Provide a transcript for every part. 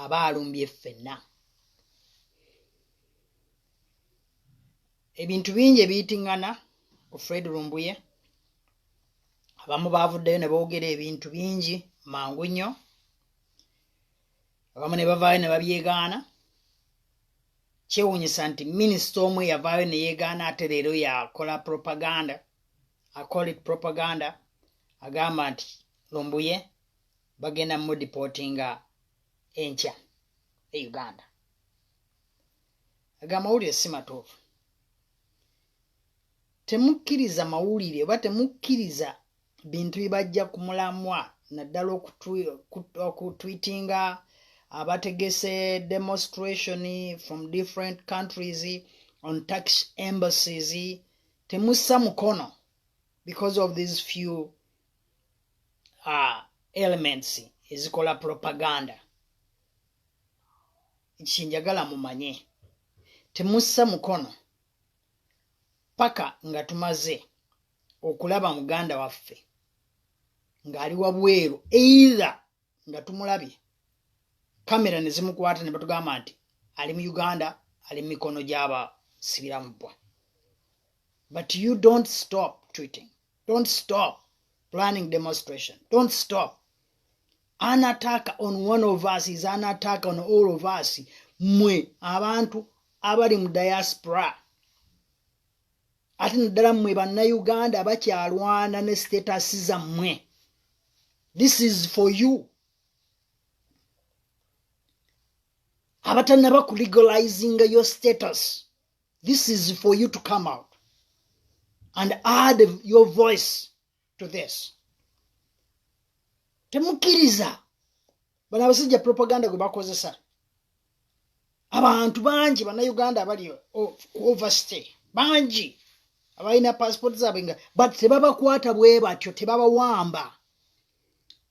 aba alumbye ffenna ebintu bingi ebiyitingana ku fred lumbuye abamu baavuddeyo ne boogera ebintu bingi mangu nnyo abamu ne bavaayo ne babyegaana kyewunyisa nti minisita omu eyavaayo ne yeegaana ate leero yakola propaganda acolit propaganda agamba nti lumbuye bagenda mudipotinga enkya e uganda aga amawulire si matuufu temukkiriza mawulire oba temukkiriza bintu bibajja ku mulamwa naddala okutwitinga abategese demonstration from different countries on tax embassies temussa mukono because of these few uh, elements ezikola propaganda kyenjagala mumanye temussa mukono paka nga tumaze okulaba muganda waffe ng'ali wabweru eitha nga tumulabye kamera ne zimukwata ne batugamba nti ali mu uganda ali mu mikono gy'abasibiramu bbwa but you don't stop tweeting don't stop planning demonstration don't stop an attack on one of us is an attack on all of us mwe abantu abali mu diaspora ate naddala mmwe bannayuganda bakyalwana ne status zammwe this is for you abatanaba ku legalizing your status This is for you to come out and add your voice to this. Temukiriza bana abasajja propaganda gwe bakozesa abantu bangi bannayuganda abali overstay bangi abalina passport zaabwe nga but tebabakwata bwe batyo tebabawamba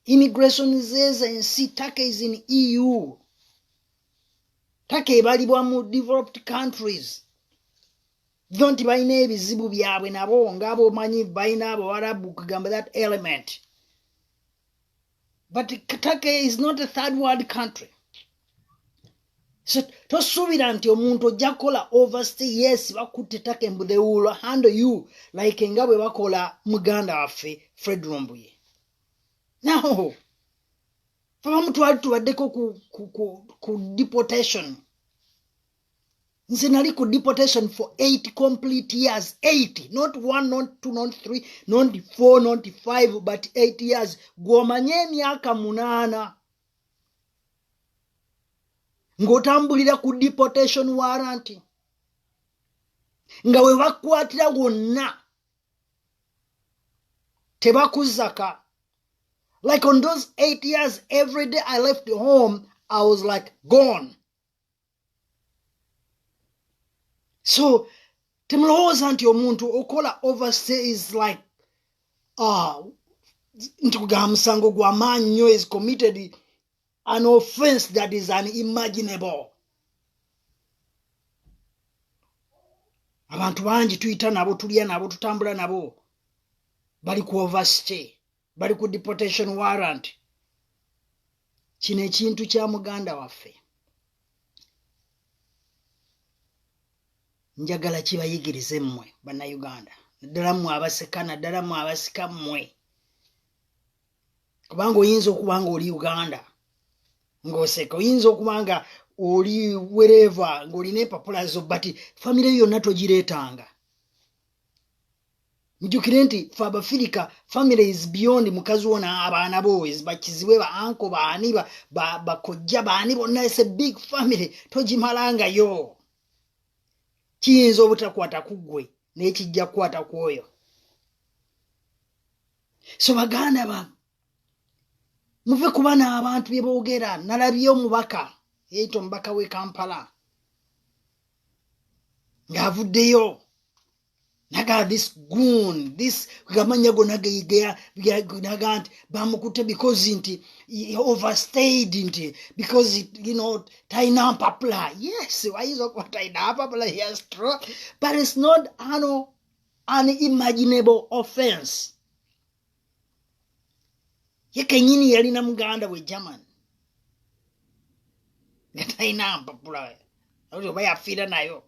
immigration zeza ensi take is in eu taka ebalibwa mu developed countries jo nti balina ebizibu byabwe nabo nga bomanyi balina abawarabu kugamba that element but taka is not a third world country so tosuubira nti omuntu ojja kukola overstay yes bakutte taka embu they will handle you like nga bwe bakola muganda waffe fred rombuye now abamu twali tubaddeko ku, ku, ku, ku deportation nze nali ku deportation for eight complete years eight not one not two not three not four not five but eight years gwomanye emyaka munaana ng'otambulira ku deportation warranty nga we bakwatira wonna tebakuzaka Like on those eight years, every day I left the home, I was like gone. So, temulowooza nti omuntu okola overstay is like uh, nti kugamba musango gwamaanyi nnyo is committed an offense that is unimaginable abantu bangi tuyita nabo tulya nabo tutambula nabo bali ku overstay bali ku deportation warrant kino ekintu kya muganda waffe njagala kibayigirize mmwe bannayuganda naddala mmwe abaseka naddala mmwe abasika mmwe kubanga oyinza okuba nga oli uganda ng'oseka oyinza okuba nga oli wereeva ng'olina empapula zo but famire yo yonna togireetanga mujukire nti fe abafirika family is beyond mukazi wona abaana bo bakizibwe baanko baani bakojja baani bonna is a big family togimalangayo kiyinza obutakwata ku ggwe naye kijja kukwata ku oyo so baganda bange muve kuba n'abantu bye boogera nalabye omubaka yeita omubaka w'e kampala ng'avuddeyo naga this goon this gamanya gona naga nti bamukute because nti overstayed nti because you know taina mpapula yes ayinza okuba taina mpapula yes true but it's not ano unimaginable offense ye kenyini yalina muganda we german nga talina mpapula oba yafiira nayo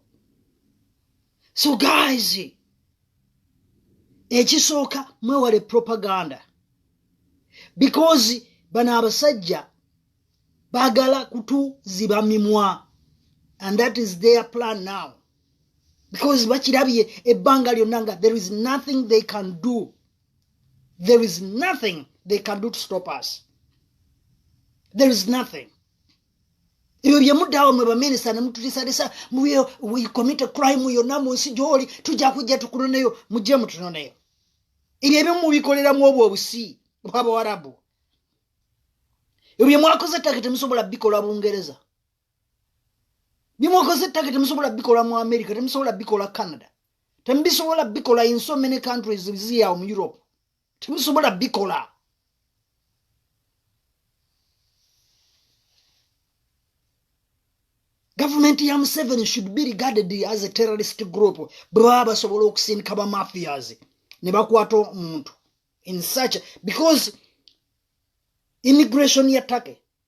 so guys ekisooka mwewale propaganda because bano abasajja bagala kutuziba mimwa and that is their plan now because bakirabye ebbanga lyonna nga there is nothing they can do there is nothing they can do to stop us there is nothing ebyo byemudaawo mwe baminista nemututisalisa mukomite crime yonna mu nsi gyoli tujja kujja tukunoneyo mujje mutunoneyo ebyo ebyo mubikoleramu obwo obusi bwabawarabu ebyo byemwakoze ttaka temusobola bikola bungereza byemukoze ettaka temusobola bikola mu america temusobola bikola canada temubisobola bikola in so many countries ziyawo mu europe temusobola bikola gavumenti ya museveni should be regarded as a terrorist group bwe baba basobola okusindika bamafias ne bakwata omuntu in such because immigration ya take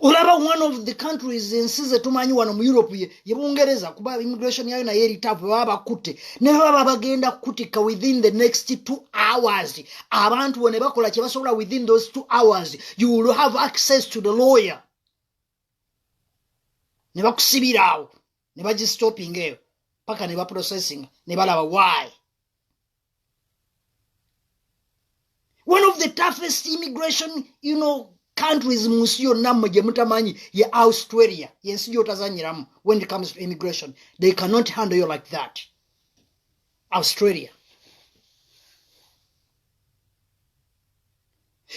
olaba one of the countries ensi zetumanyi wano mu europe ye ye bungereza kuba immigration yayo naye eritavu baba bakutte ne baba bagenda kukutikka within the next two hours abantu bo ne bakola kye basobola within those two hours you will have access to the lawyer ne bakusibira awo ne bagistopinga eyo paka ne baprocessing ne balaba why one of the toughest immigration you know countries mu nsi yonna mmwe gye mutamanyi ye australia yensi gyotazanyiramu when it comes to immigration they cannot handle you like that australia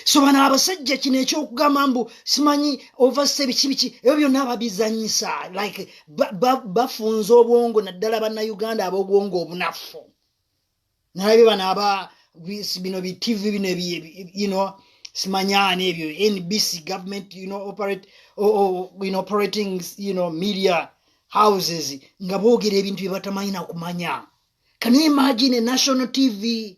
so bano abasajja kino ekyokugamba mbu simanyi ovase biki biki ebyo byonna babizanyisa like bafunza obwongo naddala bannauganda abobwongo obunafu nalabye bano aba bino bi tv bino you know simanyana ebyo nbc government you know operate or, or, you know, operating you know media houses nga boogera ebintu bye batamanyi na kumanya can you imagine a national tv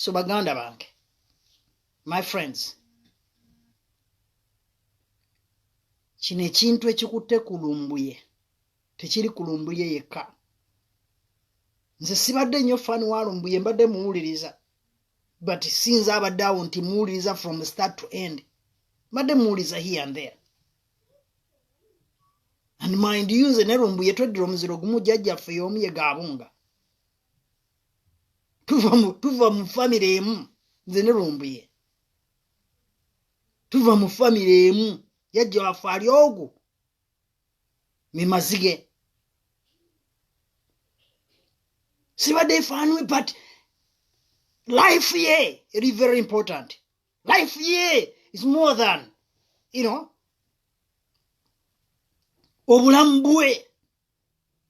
so baganda bange my friends kino ekintu ekikutte ku lumbuye tekiri ku lumbuye yekka nze sibadde nnyo fan wa lumbuye mbadde muwuliriza but sinza abadde awo nti muwuliriza from start to end mbadde muwuliriza here and there and mind you nze ne lumbuye tweddira omuziro gumu jjajjaffe y'omu ye gaabunga tuva mu famire emu nze ne lumbuye tuva mu famire emu yajja waffe ali ogwo memazige sibadde efaanwe but life ye eri very important life ye is more than you know obulamu bwe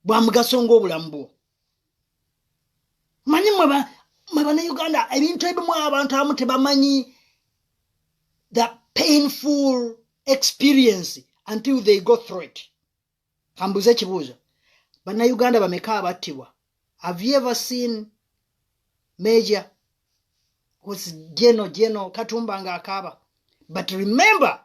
bwa mugaso ng'obulamu bwo manyi mwe banauganda ebintu ebimu abantu abamu tebamanyi the painful experience until they go through it kambuuza ekibuuzo banauganda bameka abattibwa have you ever seen major was geno geno katumba nga akaaba but remember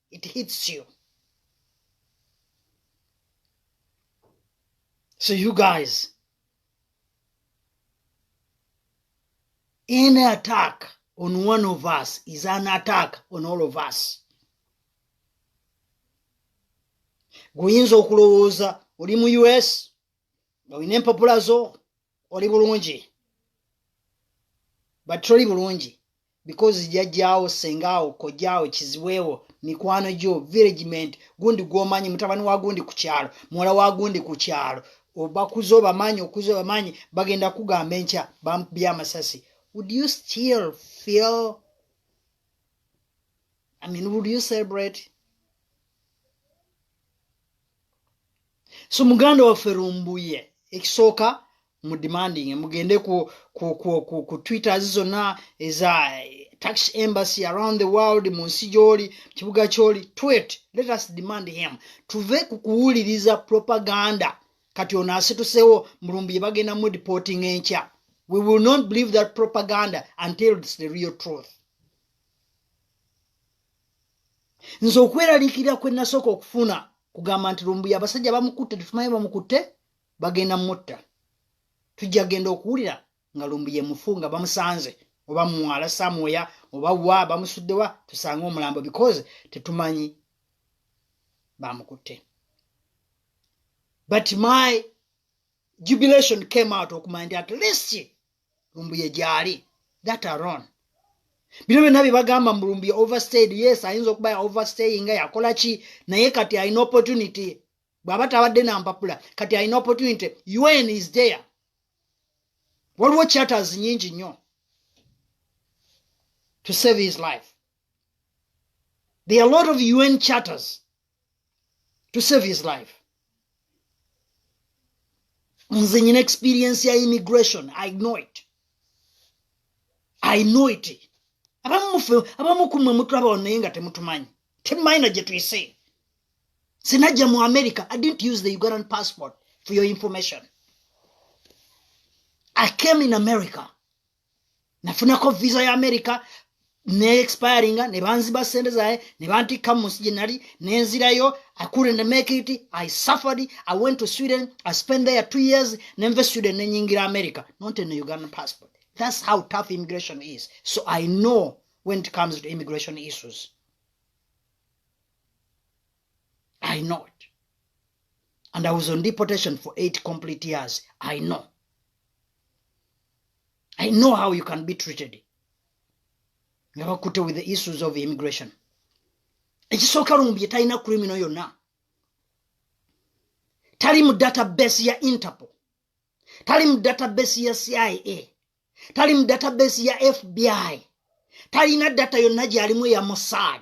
it hits you so you guys any attack on one of us is an attack on all of us guyinza okulowooza oli mu us nga olina empapula zo oli bulungi but toli bulungi because jajjaawo sengaawo kojjaawo kiziweewo mikwano gyo viregiment gundi gwomanyi mutabani wa gundi ku kyalo muwala wa gundi ku kyalo obakuza obamanyi okuza obamanyi bagenda kugamba enkya bamukubya amasasi would you still feel i mean would you celebrate so muganda waffe lumbuye ekisooka mu demanding mugende ku, ku, ku, ku, ku twitters zonna eza eh, tax embassy around the world mu nsi gyoli kibuga kyoli twit let us demand him tuve ku kuwuliriza propaganda kati ono asitusewo mulumbi yebagenda mu deporting enkya we will not believe that propaganda until its the real truth nze okweraliikirira kwe nasooka okufuna kugamba nti lumbuya abasajja bamukutte tetumanyi bamukutte bagenda mutta tujja genda okuwulira nga lumbuya emufu nga bamusanze oba muwala samwoya oba wa bamusuddewa tusange omulambo because tetumanyi bamukutte but my jubilation came out okumanya nti at least lumbuye gyali that aron bino byonna bye bagamba mu lumbuye overstayed yes ayinza okuba ya overstay nga yakola ki naye kati alina opportunity bw'aba tabadde na mpapula kati alina opportunity un is there waliwo chatters nyingi nnyo to save his life there are a lot of un chatters to save his life nze nyina experience ya immigration i know it i know it abamufe abamukumwe mutulaba ono naye nga temutumanyi temumayina gye tuyise sinajja mu america i didn't use the ugandan passport for your information i came in america nafunako visa ya america neexpiringa nebanziba sente zaye nebantikka mu nsi gyenali nenzirayo i couldn't make it i suffered i went to sweden i spent there two years nenve sweden nenyingira america not in ugandan passport that's how tough immigration is so i know when it comes to immigration issues i know it and i was on deportation for eight complete years i know i know how you can be treated nga bakutte with the issues of immigration ekisooka lumbye talina criminal yonna tali mu database ya interpol tali mu database ya cia tali mu database ya fbi talina data yonna gyalimu ya mossad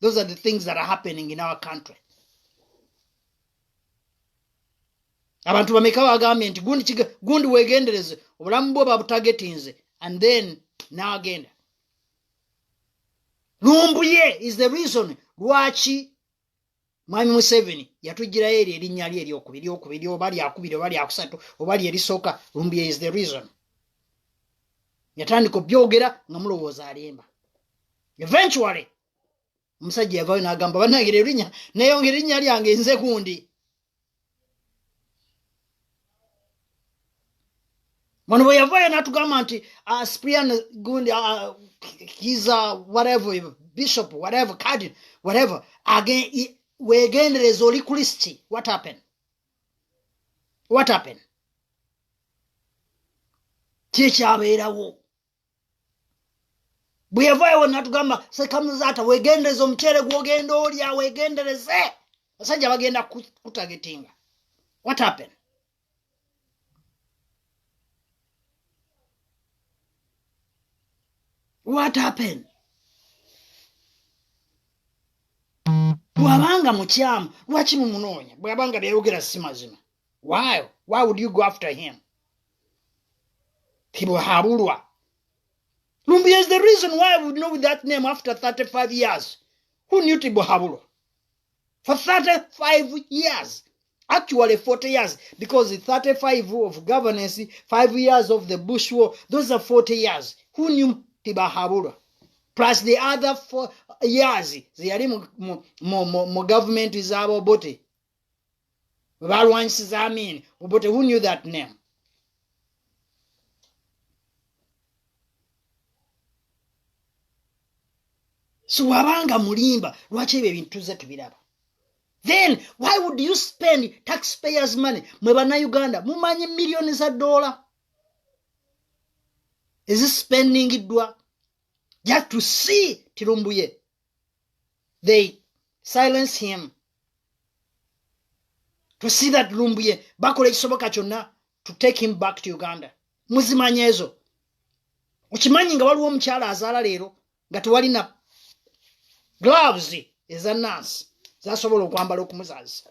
Those are the things that are happening in our country. abantu bameka bagambye nti gundi wegendereze obulamu bwo babutagetinze and then naagenda lumbuye is the reason lwaki mwami museveni yatugirayo eryo erinnya lye eryokubiri okubiri oba lyakubiri oba lyakusatu oba lyerisooka lumbuye is the reason yatandika obyogera nga mulowooza alimba eventually omusajja yavayo nagamba banange erinya neyongera erinya lyange nze gundi wano bwe yavayo natugamba nti uh, sprian gundi uh, kiza whatever bishop whatever cardin whatever wegendereza oli kulisiti what happen what happen kyekyabeerawo bweyavayo wena tugamba sekamuzaata wegendereza omuceere gwogenda olya wegendereze basajja bagenda kutagetinga what happen what happen bwabanga mukyamu lwaki mumunoonya bwabanga byayogera si mazima why why would you go after him tibuhabulwa lumbuye is the reason why we know that name after 35 years who knew tibuhabulwa for 35 years actually 40 years because 35 of governance 5 years of the bush war those are 40 years who knew tibahabulwa plus the other four years zeyali mu, mu, mu, mu, mu government zabobote bwe baalwanyisiza amiini obote who knew that name so wabanga mulimba lwaki ebyo ebintu tuzze tubiraba then why would you spend taxpayers money mwe bannayuganda mumanyi miliyoni za doola ezisipendingiddwa just to see tirumbuye they silence him to see that lumbuye bakola ekisoboka kyonna to take him back to uganda muzimanya ezo okimanyi nga waliwo omukyala azaala leero nga tewalina gloves eza nansi zasobola okwambala okumuzaalisa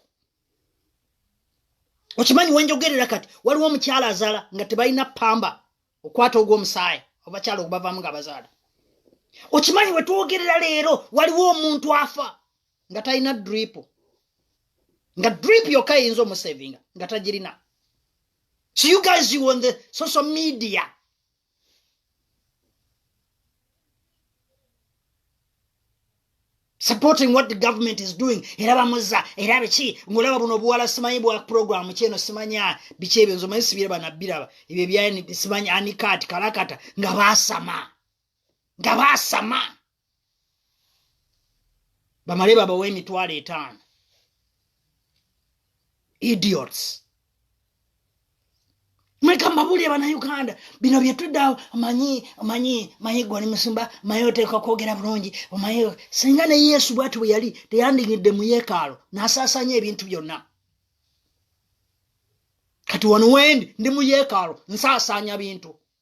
okimanyi wenjogerera kati waliwo omukyala azaala nga tebalina pamba okwata ogwomusaayi obakyala ogubavamu nga bazaala okimanyi wetwogerera leero waliwo omuntu afa nga talina dripu nga dripu yokka eyinza omusevinga nga tagirina so you guys you on the social media supporting what the government is doing era bamuza era biki ngolaba buno obuwala simanyi bwa program kyeno simanya biki ebyo nzo manyi sibiraba nabiraba ebyo bya simanyi anikat kalakata nga basama nga basama bamale babawa emitwalo etaano idiots mweka mbabulire banauganda bino byetuddawo manyi manyi manyi gwali musumba maye oteeka kwogera bulungi omaye singa ne yesu bwati bwe yali teyandinyidde mu yeekaalo n'asaasaanya ebintu byonna kati wano wendi ndi mu yeekaalo nsaasaanya bintu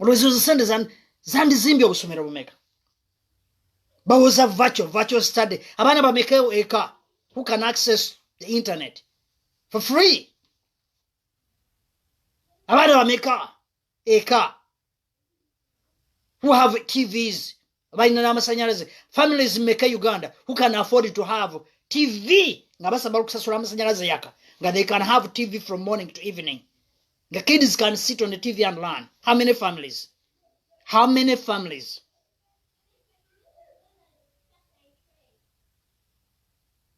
olwezi ozo sente zandizimbye obusomero bumeka bawoza virtual virtual study abaana bamekeo eka who can access the internet for free abaana bameka eka who have tvs balina n'amasanyalaze families meka uganda who can afford to have tv nga basaba okusasula amasanyalaze yaka nga they can have tv from morning to evening the kids can sit on the tv and learn how many families how many families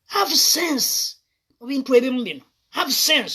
have sense mu bintu ebimu bino have sense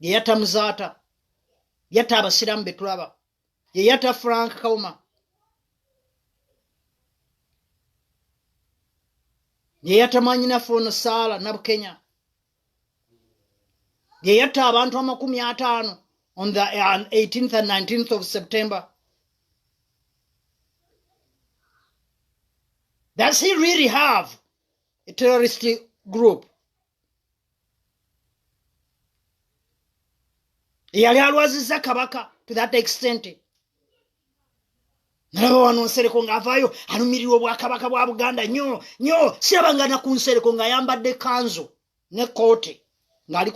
yeyata muzaata yata abasiraamu betulaba yeyata frank kauma yeyata mwanyinafe ono saala nabukenya yeyata abantu amakumi ataano on the 18th uh, and 19th of september does he really have a terrorist group eyali alwaziza kabaka to that extent nalaba wano nsereko ngaavaayo alumirirwa obwakabaka bwa buganda nyo nyo sirabangana ku nsereko ngaayambadde kanzo ne kooti ng'ali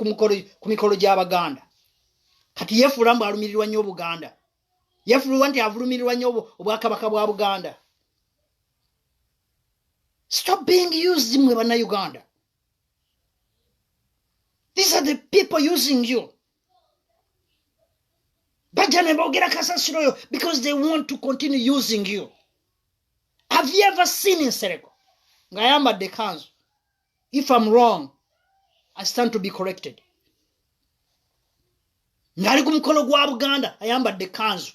ku mikolo gy'abaganda kati yeefuula mbu alumirirwa nnyo obuganda yefululwa nti avulumirirwa nnyo obwakabaka bwa buganda stop being used mwe bannayuganda these are the people using you bajja ne boogera kasasiro oyo because they want to continue using you have you ever seen nsereko ng'ayambadde kanzu if am wrong i stand to be corrected ngali ku mukolo gwa buganda ayambadde kanzu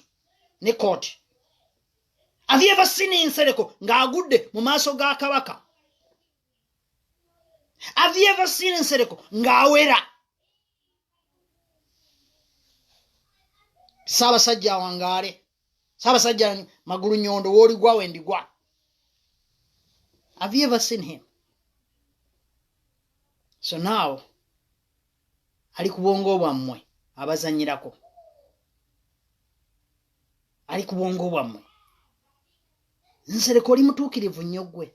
ne kooti have you ever seen insereko ng'agudde mu maaso ga kabaka have you ever seen insereko ng'awera ssaabasajja awangaale ssaabasajja magulu nyondo wooligwa wendigwa have you ever seen him so now ali ku bwongo bwammwe abazanyirako ali ku bwongo bwammwe nsereka oli mutuukirivu nnyo ggwe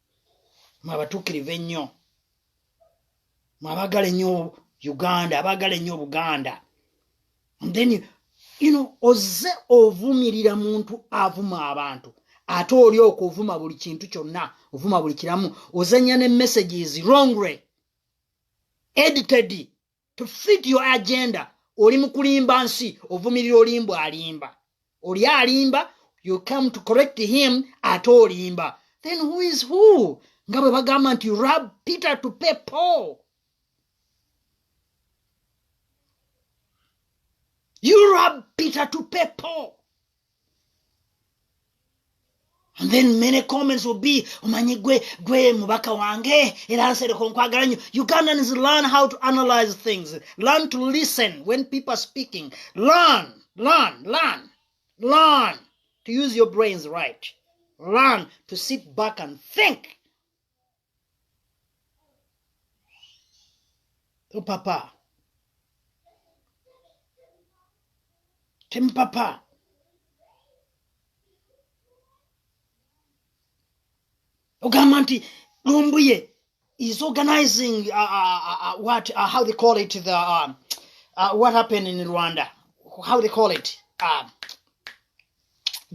mwabatukirivu ennyo mwabagala ennyo uganda abagala ennyo obuganda then you know ozze ovumirira muntu avuma abantu ate oli okwo ovuma buli kintu kyonna ovuma buli kiramu ozanya ne messages wrongly edited to fit your agenda oli mukulimba nsi ovumirira olimba alimba oli alimba you come to correct him ate olimba then who is who nga bwe bagamba nti rab peter to pay paul you rab peter to pay paul And then many comments will be omanyi gwe gwe mubaka wange era nsereko nkwagala nyo ugandans learn how to analyze things learn to listen when people are speaking learn learn learn learn to use your brains right learn to sit back and think topapa temupapa ogamba nti lumbuye is organizing uh, uh, uh, uh, what uh, how they call it the uh, uh, what happened in rwanda how they call it uh,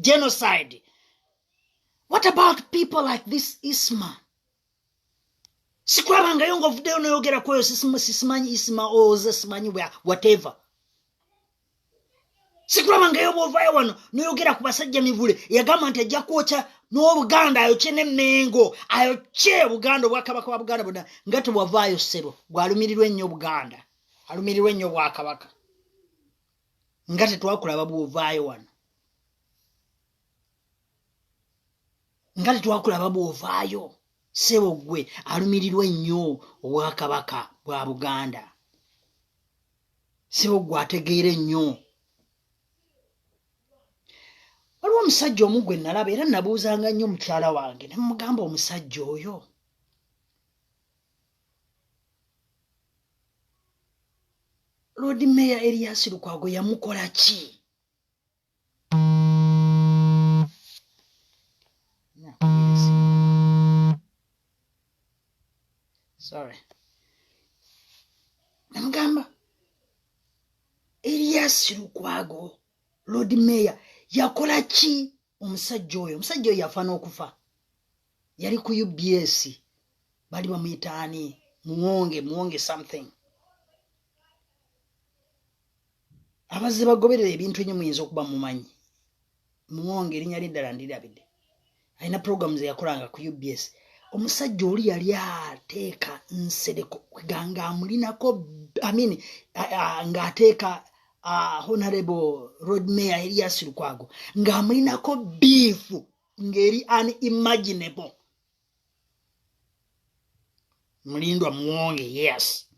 genocide what about people like this isma sikulabangayo nga ovuddeyo noyogera kweyo sisimanyi isma oze simanyi whatever sikulabangayo bwovayo wano noyogera ku basajja mivule yagamba nti ajja kwokya n'obuganda ayokye nemengo ayokye buganda obwakabaka bwa buganda bona nga tewavaayo sebo gwalumirirwa ennyo buganda alumirirwa ennyo bwakabaka nga tetwakulaba bwovaayo wano nga tetwakulaba bw'ovaayo sebo gwe alumirirwa ennyo obwakabaka bwa buganda sebo gwe ategeera ennyo waliwo omusajja omu gwe nalaba era nabuuzanga nnyo mukyala wange ne mugamba omusajja oyo loodi meeya eriyasi lukwago yamukola ki sorry namugamba elias lukwago lord mayor yakola ki omusajja oyo omusajja oyo yafa n'okufa yali ku ubs bali bamuyitaani muwonge muwonge something abazze bagoberera ebintu enyo muyinza okuba mumanyi muwonge erinya lyeddala ndirabidde alina program zeyakolanga ku ubs omusajja oli yali ateeka nsereko kweganga amulinako amin ngaateeka honorable road mayor elias lukwago ngaamulinako biifu ngeri unimaginable mulindwa muwonge yes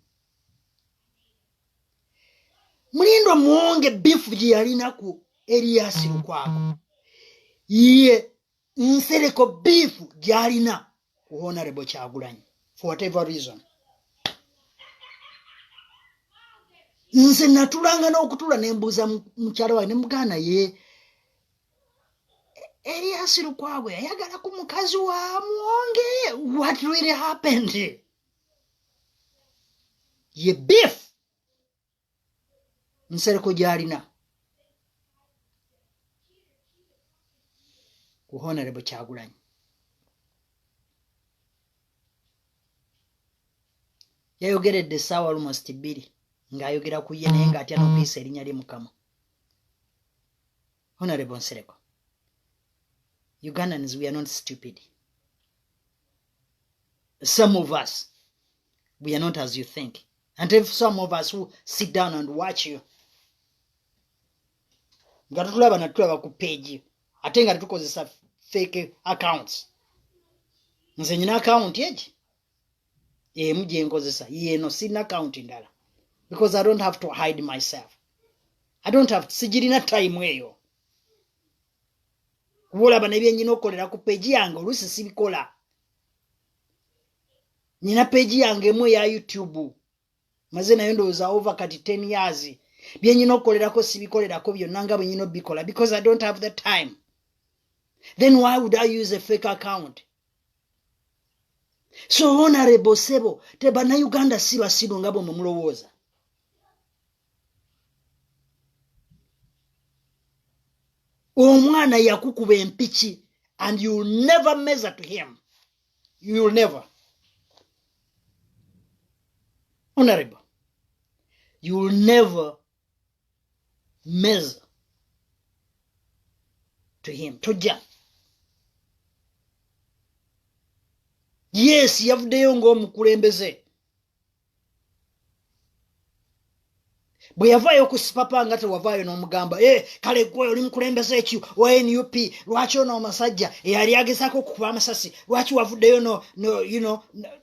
mulindwa muwonge bifu gye yalinaku eriyasi lukwako ye nsereko bifu gyalina ku honarebo kyagulanyi for whatever reason nze natulanga n'okutula nembuuza mukyala wae nemuganda ye Elias Lukwago yayagala ku mukazi wa Mwonge. What really happened? Ye beef Nsereko gyalina ku Honorable Kyagulanyi. yayogeredde essaawa almost bbiri ng'ayogera ku ye naye ng'atya n'okuyisa erinnya lye mukama Honorable Nsereko. Ugandans we are not stupid. Some of us, we are not as you think. And if some of us who sit down and watch you, nga tutulaba natulaba ku peegi ate nga tetukozesa fake accounts nze nyina akawunti egi emu gye nkozesa yeeno sirina akawunti ndala because i don't have to hide myself i don't have sigirina time eyo kuba olaba nebyenyina okukolera ku peegi yange oluusi sibikola nyina peegi yange emu eya youtube maze nayo ndowooza over kati ten years byenyina okukolerako sibikolerako byonna nga bwenyina obikola because i don't have the time then why would i use a fake account so honorable sebo tebanayuganda si basiru nga bwe mumulowooza omwana yakukuba empiki and you will never measure to him you will never honorable you will never meza to him tojja yes yavuddeyo ng'omukulembeze bwe yavaayo ku sipapa nga tewavaayo n'omugamba e eh, kale gwe oli mukulembeze ekyo wa nup lwaki ono omusajja eyali agezaako okukuba amasasi lwaki wavuddeyo no, no, you know,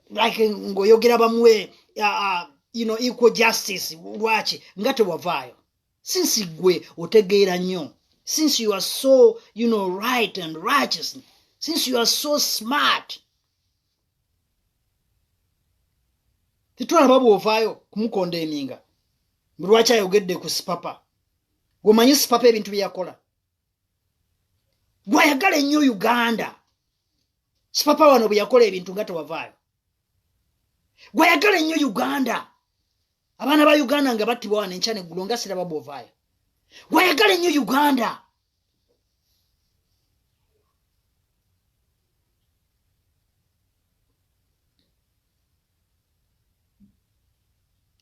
like ng'oyogera bamuwe uh, uh, you know, equal justice lwaki nga tewavaayo since gwe otegeera nnyo since you are so you know, right and righteous since you are so smart tetulaba bwovaayo kumukonda eminga lwaki ayogedde ku sipapa gwemanyi sipapa ebintu byeyakola gwayagala ennyo uganda sipapa wano bwe yakola ebintu nga tewavaayo gwayagala ennyo uganda abaana ba uganda nga battibwa wano enkya neggulo nga siraba bwovaayo gwayagala ennyo uganda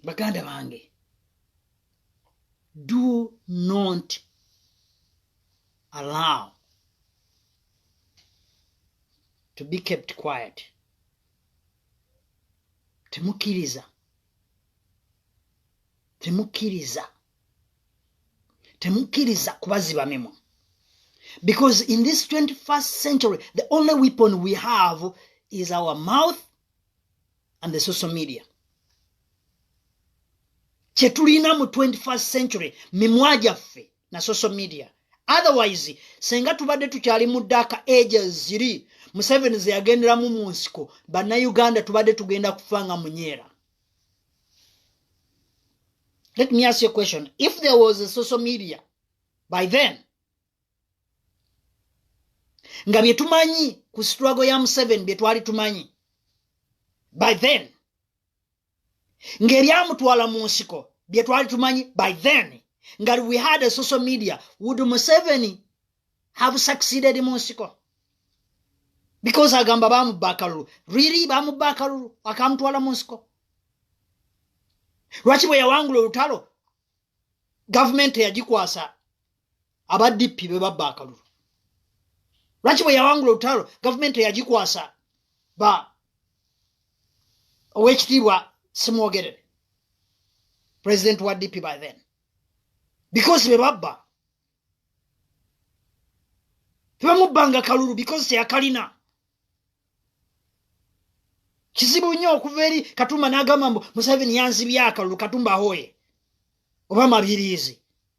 baganda bange do not allow to be kept quiet temukkiriza temukkiriza temukkiriza kubaziba mimwa because in this 21st century the only weapon we have is our mouth and the social media kyetulina mu 21st century mimwa gyaffe na social media otherwise senga tubadde tukyali mu daka ages ziri museveni zeyagenderamu mu nsiko bannayuganda tubadde tugenda kufa nga munyeera let me ask you a question if there was a social media by then nga bye tumanyi ku struggle ya museveni bye twali tumanyi by then ng'ebyamutwala mu nsiko bye twali tumanyi by then nga we had a social media would museveni have succeeded mu nsiko because agamba bamubba akalulu really bamubba akalulu akamutwala mu nsiko lwaki bwe yawangula olutalo gavumenti eyagikwasa aba dp be babba akalulu lwaki bwe yawangula olutalo gavumenti eyagikwasa ba owekitiibwa simwogerere president wa dp by then because be babba tebamubbanga kalulu because teyakalina kizibu nnyo okuva eri katumba n'agamba mbu museveni yanzibya akalulu katumba ahoye oba mabiriizi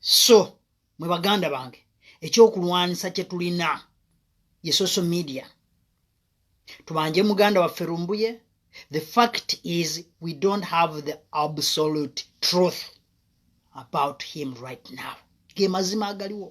so mwe baganda bange ekyokulwanyisa kye tulina ye social media tubanje muganda waffe lumbuye the fact is we don't have the absolute truth about him right now ge mazima agaliwo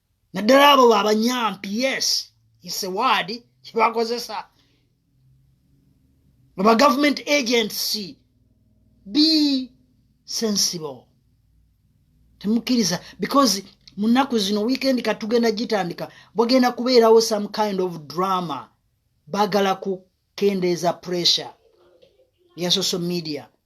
naddala abo babanyampi yes isewaadi kyebakozesa aba government agency be sensible temukkiriza because mu nnaku zino weekend katugenda gitandika bwagenda kubeerawo some kind of drama bagala kukendeeza pressure ya social media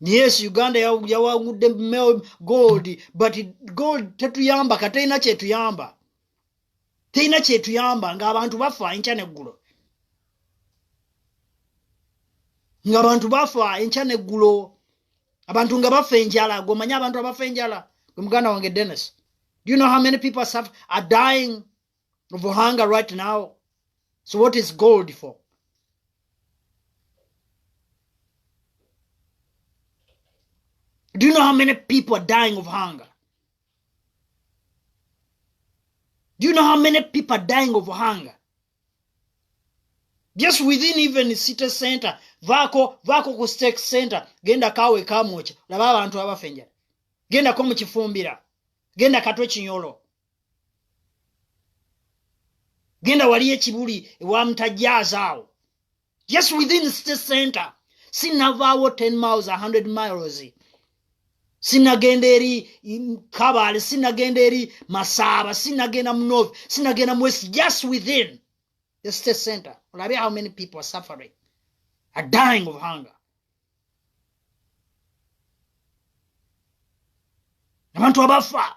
yes uganda yawangudde gold but gold tetuyamba katerina kyetuyamba terina kyetuyamba ngaabantu bafa enkya neggulo ngaabantu bafa enkya neggulo abantu nga bafa enjala gomanye abantu abafa enjala muganda wange dennis do you know how many people are dying of hunger right now. So what is gold for? Do you know how many people are dying of hunger? Do you know how many people are dying of hunger? Just within even city center, vako vako ku stake center, genda kawe kamocha, laba abantu abafa enjala. Genda ko mu kifumbira. Genda katwe kinyolo. genda waliyo ekibuli ewamutajaaza awo just within city center sinavaawo 10 miles 100 miles sinagenda eri kabale sinagenda eri masaaba sinagenda mu north sinagenda mu west just within the city center olabe how many people are suffering are dying of hunger abantu abafa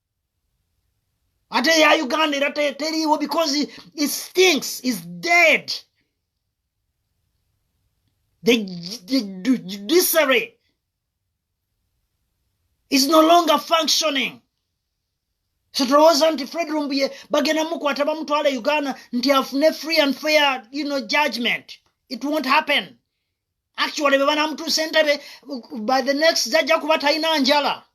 ate ya uganda era teriiwo because it stinks is dead the, the judiciary is no longer functioning so tulowooza nti fred rumbuye bagenda mukwata bamutwala e uganda nti afune free and fair you know, judgment it won't happen actually bebanamutuusa entebe by the next jajja kuba talina njala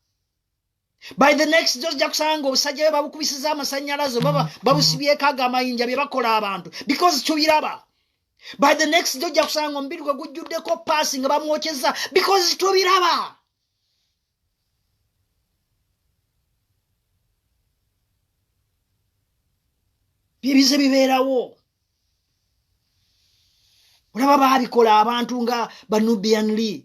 by the next day ojja kusanga obusajja bwe babukubisiza amasanyalaze oba mm. babusibyeko ago amayinja bye bakola abantu because tubiraba by the next day ojja kusanga omubiri gwe gujjuddeko paasi nga bamwokyeza because tubiraba byebize bibeerawo olaba baabikola abantu nga banubian lee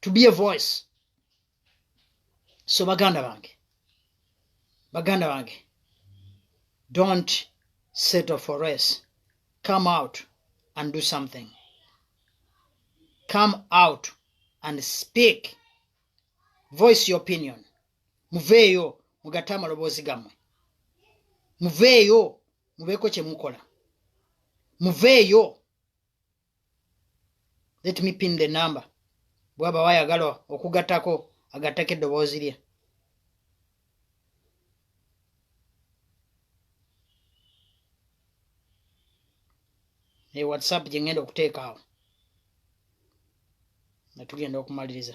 to be a voice so baganda bange baganda bange don't settle for rest come out and do something come out and speak voice your opinion muveeyo mugate amaloboozi gammwe muveeyo mubeeko kye mukola muveeyo let me pin the number bwaba wayagala okugattako agattako eddoboozi lye e whatsapp gye ngenda okuteeka awo nga tugenda okumaliriza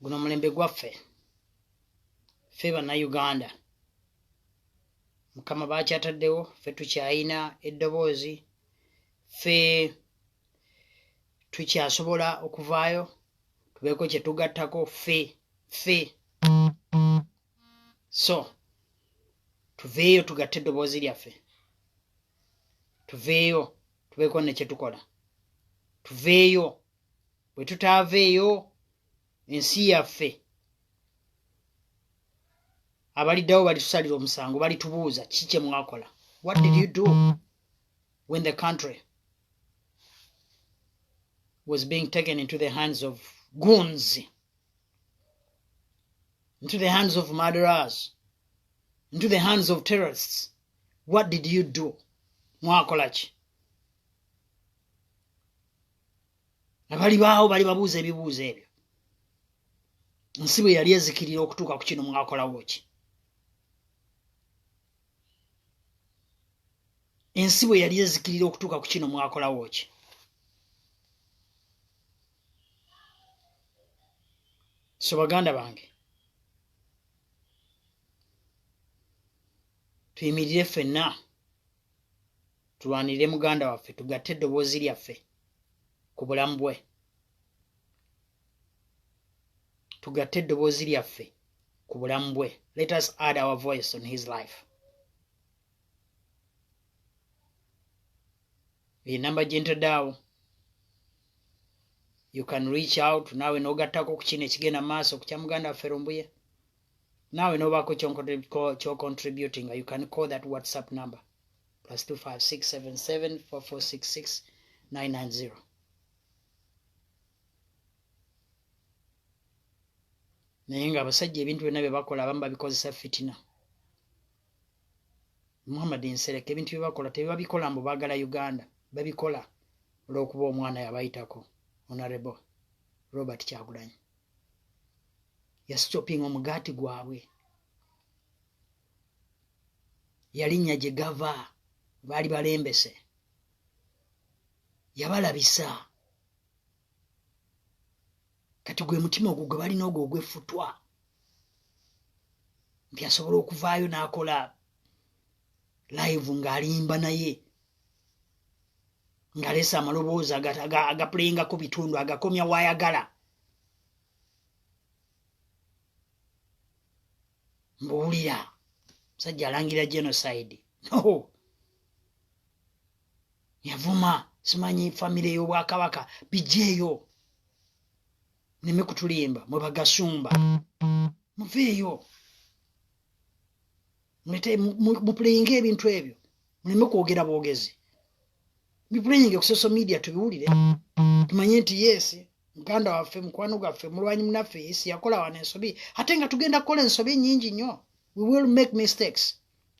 guno mulembe gwaffe fe bannayuganda mukama bakyataddewo fe tukyayina eddoboozi fe tukyasobola okuvaayo tubeeko kyetugattako fe fe so tuveeyo tugatte eddoboozi lyaffe tuveeyo tubeeko nekyetukola tuveeyo bwe tutaaveeyo ensi yaffe abaliddawo balitusalira omusango balitubuuza ki kye mwakola what did you do when the country was being taken into the hands of goons into the hands of murderers into the hands of terrorists what did you do mwakola ki abalibaawo bali babuuza ebibuuzo ebyo nsi bwe yali ezikirira okutuuka ku kino mwakolawo ki ensi bwe yali ezikirira okutuuka ku kino mwakolawo ki so baganda bange tuyimirire ffenna tulwanirire muganda waffe tugatte eddoboozi lyaffe ku bulamu bwe tugatte eddoboozi lyaffe ku bulamu bwe let us add our voice on his life enamba gyentadaawo you can reach out naawe n'ogattako ku kino ekigenda maaso ku kya muganda waffe lumbuye naawe nobaako kyocontributinga you can call that whatsapp number plus 256774466990 naye nga abasajja ebintu byonna bye bakola abamu babikozesa fitina muhammad nsereka ebintu bye bakola tebibabikola mbu baagala uganda babikola olw'okuba omwana yabayitako onarebo robert kyagulanyi yasitopinga omugaati gwabwe yalinnya gye gava baali balembese yabalabisa kati gwe mutima ogwo gwe balina ogwo ogwefutwa nti asobola okuvaayo n'akola live ng'alimba naye ng'aleesa amaloboozi agapuleyingako bitundu agakomya waayagala mbuwulira musajja alangira genocide no yavuma simanyi famire y'obwakabaka bijeeyo neme kutulimba mwe bagasumba muveeyo mupuleyinga ebintu ebyo muleme kwogera bwogezi bipuleyinga ku social media tubiwulire tumanye nti yes muganda waffe mukwano gwaffe mulwanyi munaffe yesi yakola wana ensobi ate nga tugenda kukola ensobi nyingi nnyo we will make mistakes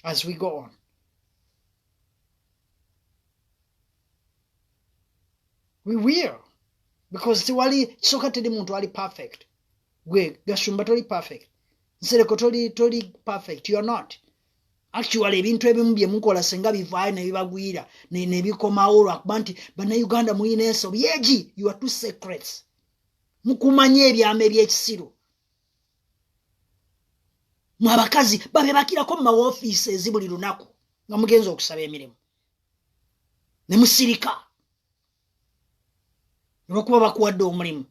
as we go on we will because tiwali kisoka teri muntu ali perfect gwe gashumba toli perfect nsereko toli toli perfect you're not actually ebintu ebimu byemukola senga bivaayo nebibagwira nebikomawo lwakuba nti banauganda muyina ensobi egi you are two secrets mukumanya ebyama ebyekisiru mwe abakazi babebakirako mu mawofiisi ezi buli lunaku nga mugenza okusaba emirimu ne musirika olwokuba bakuwadde omulimu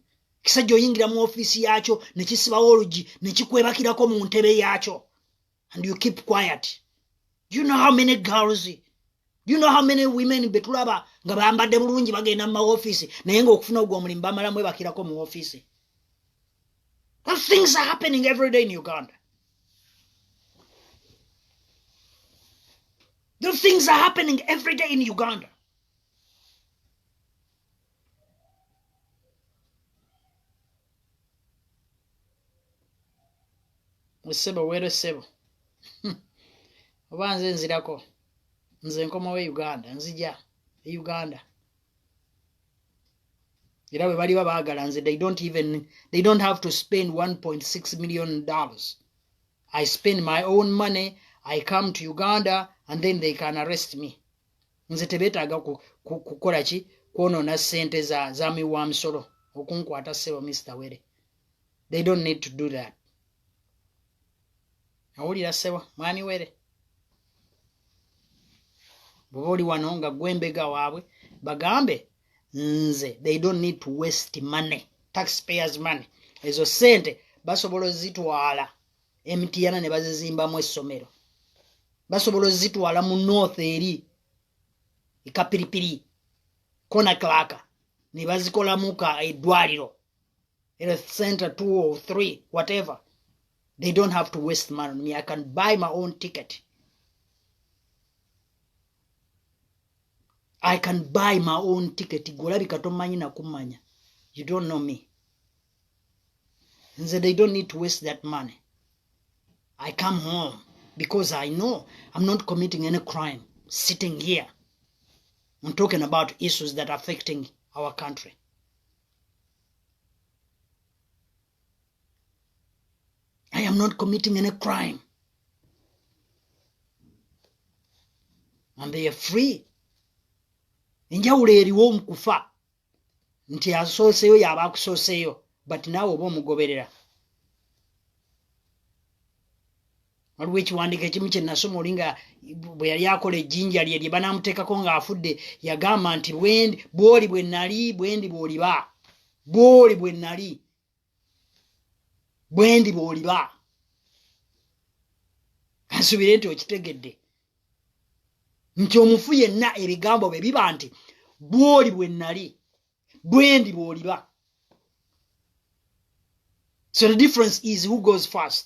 kisajja oyingira mu ofiisi yaakyo ne kisibawo olugi ne kikwebakirako mu ntebe yaakyo and you keep quiet do you know how many girls do you know how many women betulaba nga bambadde bulungi bagenda mu maofiisi naye nga okufuna ogwo omulimu bamala mwebakirako mu ofiisi those things are happening every day in uganda those things are happening every day in uganda musebo were sebo oba nze nzirako nze nkomawo e uganda nzija e uganda era bwe baliba baagala nze they don't even they don't have to spend 1.6 million dollars i spend my own money i come to uganda and then they can arrest me nze tebetaaga kukola ki kwonoona ssente za za miwa misolo okunkwata ssebo mister were they don't need to do that awulira ssebo mwami were bwoba oli wano nga gwe mbega waabwe bagambe nze they don't need to waste money taxpayers money ezo ssente basobola ozitwala emtiyana ne bazizimbamu essomero basobola ozitwala mu north eri ekapiripiri kona klaka ne bazikolamu ka eddwaliro health center two or three whatever they don't have to waste money on me i can buy my own ticket i can buy my own ticket golabika tomanyi nakumanya you don't know me nze they don't need to waste that money i come home because i know i'm not committing any crime sitting here and talking about issues that are affecting our country i am not committing any crime and they are free enjawulo eriwo mu kufa nti asooseyo yaba akusooseyo but naawe oba omugoberera waliwo ekiwandiiko ekimu kye nasoma oli nga bwe yali akola ejjinja lye lye banaamuteekako ng'afudde yagamba nti bwoli bwe nali bwendi bw'oliba bwoli bwe nali bwendi bwoliba kansubire nti okitegedde nti omufu yenna ebigambo bye biba nti bwoli bwe nnali bwendi bwoliba so the difference is who goes first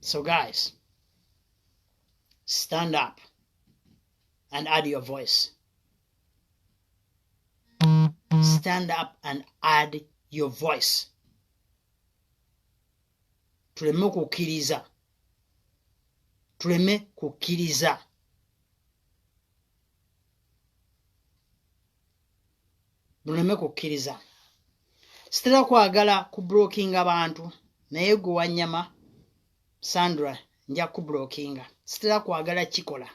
So, guys, stand up and add your voice. Stand up and add your voice. tuleme kukkiriza tuleme kukkiriza luleme kukkiriza sitera kwagala kubrokinga bantu naye gwe wanyama sandra nja kubrokinga sitera kwagala kikola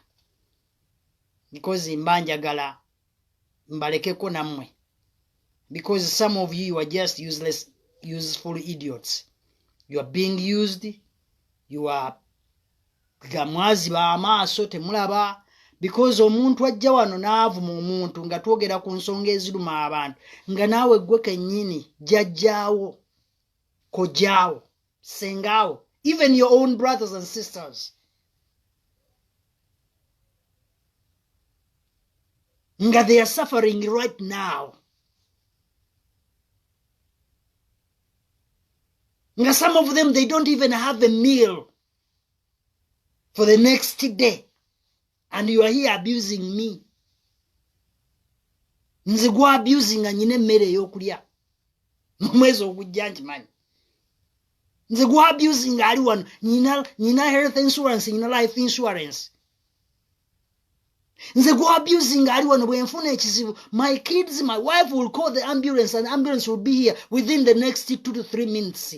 because mba njagala mbalekeko nammwe because some of you, you are just useless useful idiots you are being used you are gamwaziba amaaso temulaba because omuntu ajja wano n'avuma omuntu nga twogera ku nsonga eziruma abantu nga naawe ggwe kennyini jajjaawo kojaawo sengaawo even your own brothers and sisters nga they are suffering right now nga some of them they don't even have a meal for the next day and you are here abusing me nze gwa abusing anyina emmere eyokulya nomwezi ogujja nkimanyi nze gwa abusing ali wano nyina nyina health insurance nyina life insurance nze gwa abusing ali wano bwenfuna ekizibu my kids my wife will call the ambulance and ambulance will be here within the next two to three minutes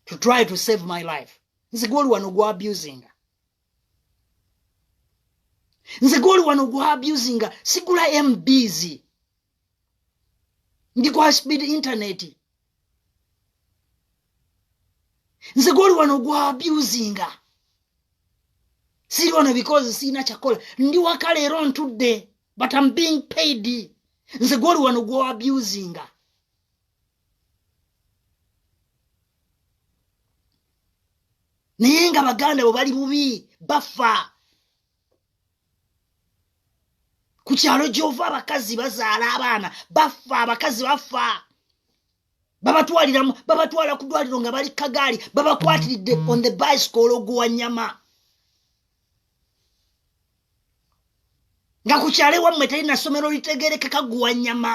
to try to save my life nze gwoli wano gwa abusinga nze gwoli wano gwa abusinga sigula mbs ndi kwa speed internet nze gwoli wano gwa abusinga siri wano because siina kyakola ndi waka leero ntudde but am being paid nze gwoli wano gwa abusinga naye nga baganda bwe bali bubi bafa ku kyalo gyova abakazi bazaala abaana bafa abakazi bafa babatwaliramu babatwala ku dwaliro nga bali kagaali babakwatiridde on the bicycle ologuwa nyama nga ku kyalo ewammwe teri nasomero litegerekeka guwa nyama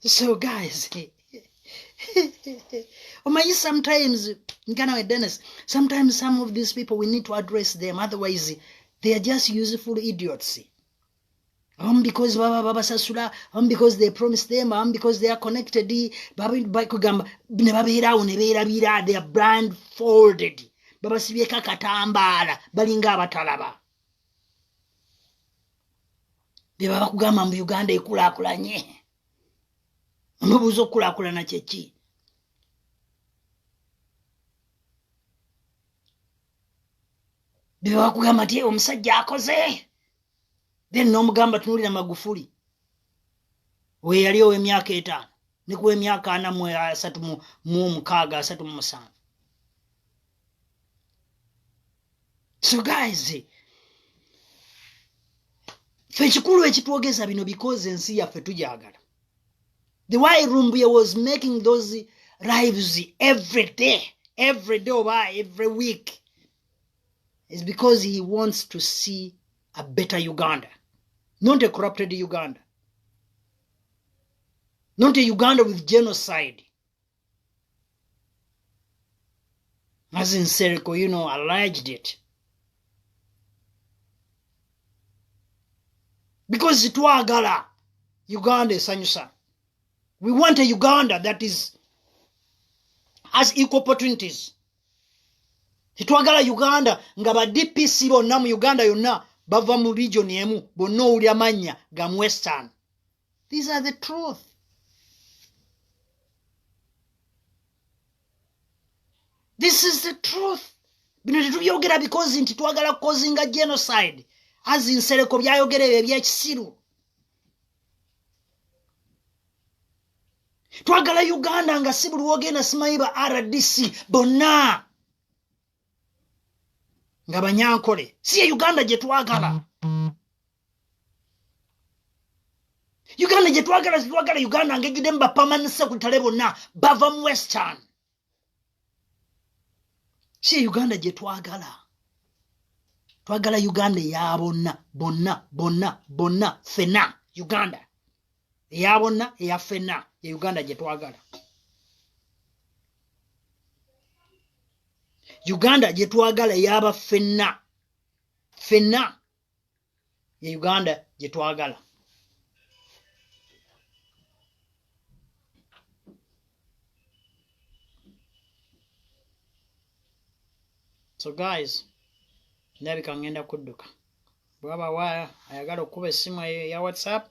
so guys omanyi sometimes muganda we dennis sometimes some of these people we need to address them otherwise they are just useful idiots abamu because baba babasasula abamu because they promise them abamu because they are connected bakugamba ne babeeraawo ne beerabira they are brand folded babasibyeko akatambaala balinga abatalaba beba bakugamba mbu uganda ekulakulanye onobuuza okukulakulana kyeki beba bakugamba nti omusajja akoze then nomugamba tunulira magufuli weyali owemyaka etaano nikuwa emyaka ana mu asatu mu omukaaga asatu mu musanvu so guys fe ekikulu ekitwogeza bino because ensi yaffe tugyagala the way rumbuye was making those lives every day every day oba every week is because he wants to see a better uganda not a corrupted uganda not a uganda with genocide As in Seriko, you know, alleged it. Because twagala Uganda esanyusa. We want a Uganda that is has equal opportunities. Titwagala Uganda nga ba DPC bonna mu Uganda yonna bava mu region emu bonna owulira mannya ga Western. These are the truth. This is the truth. bino tetubyogera bikozi nti twagala kukozinga genocide azi nsereko byayogera ebyo ebyekisiru twagala uganda nga si buli wogenda simanyi ba rdc bonna nga banyankole si ye uganda gye twagala uganda gye twagala twagala uganda ngejjudde mu bapamani sekutale bonna bava mu western si ye uganda gye twagala twagala uganda eya bonna bonna bonna bonna fena uganda eya bonna eya ffenna ye uganda gye twagala uganda gye twagala eyaba ffenna ffenna ye uganda gye twagala so guys ndabika ngenda kudduka bwaba wa ayagala okukuba essimu eyo eya whatsapp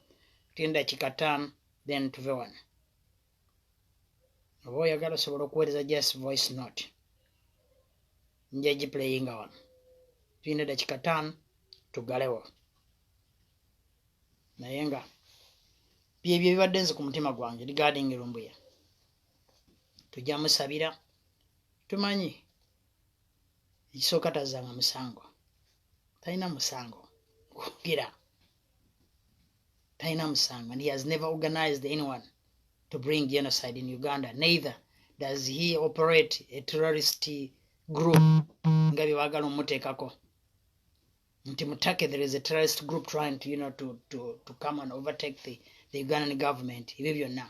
tinda kikataano then tuve wano oba oyagala osobola okuweereza just voice note njagiplayinga wano tulina dakika taano tugalewo naye nga byebyo ebibadde nze ku mutima gwange regarding lumbuya tujja musabira tumanyi ekisooka tazzanga musango talina musango kwogera talina musango and he has never organized anyone to bring genocide in uganda neither does he operate a terrorist group nga bye baagala omuteekako nti mutake there is a terrorist group trying to, you know, to, to, to come and overtake the, the ugandan government ebyo byonna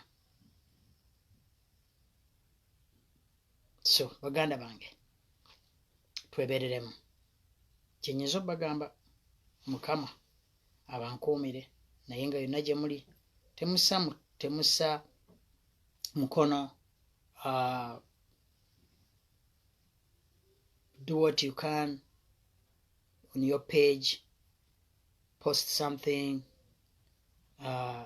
so baganda bange twebereremu kyenyinza obagamba mukama abankuumire naye nga yonna gye muli temusa temusa mukono uh, do what you can on your page post something uh,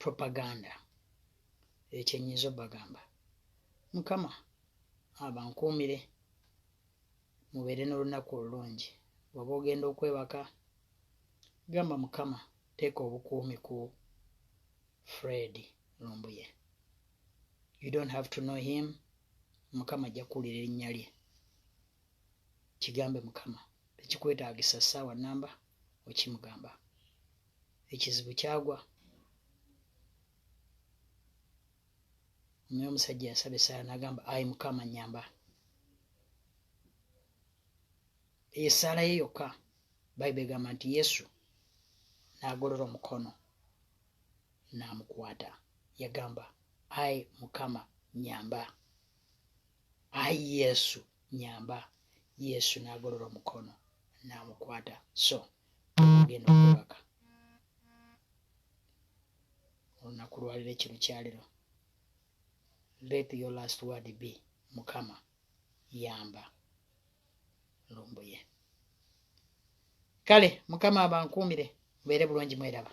propaganda ekyo nyinza obagamba mukama abankuumire mubeere n'olunaku olulungi bwaba ogenda okwebaka gamba mukama teeka obukuumi ku fred lumbuye you don't have to know him mukama ajja kuwulira erinnya lye kigambe mukama tekikwetaagisa ssaawa namba okimugamba ekizibu kyagwa naye omusajja yasaba esaala nagamba ayi mukama nyamba eyo esaala ye yokka bayibuli egamba nti yesu n'agolola omukono n'amukwata yagamba ayi mukama nyamba ayi yesu nyamba yesu nagolola omukono namukwata so ogenda okubaka olunaku lwaliro ekiro kyaliro let your last word be mukama yamba lumbuye kale mukama abankuumire mubeere bulungi mweraba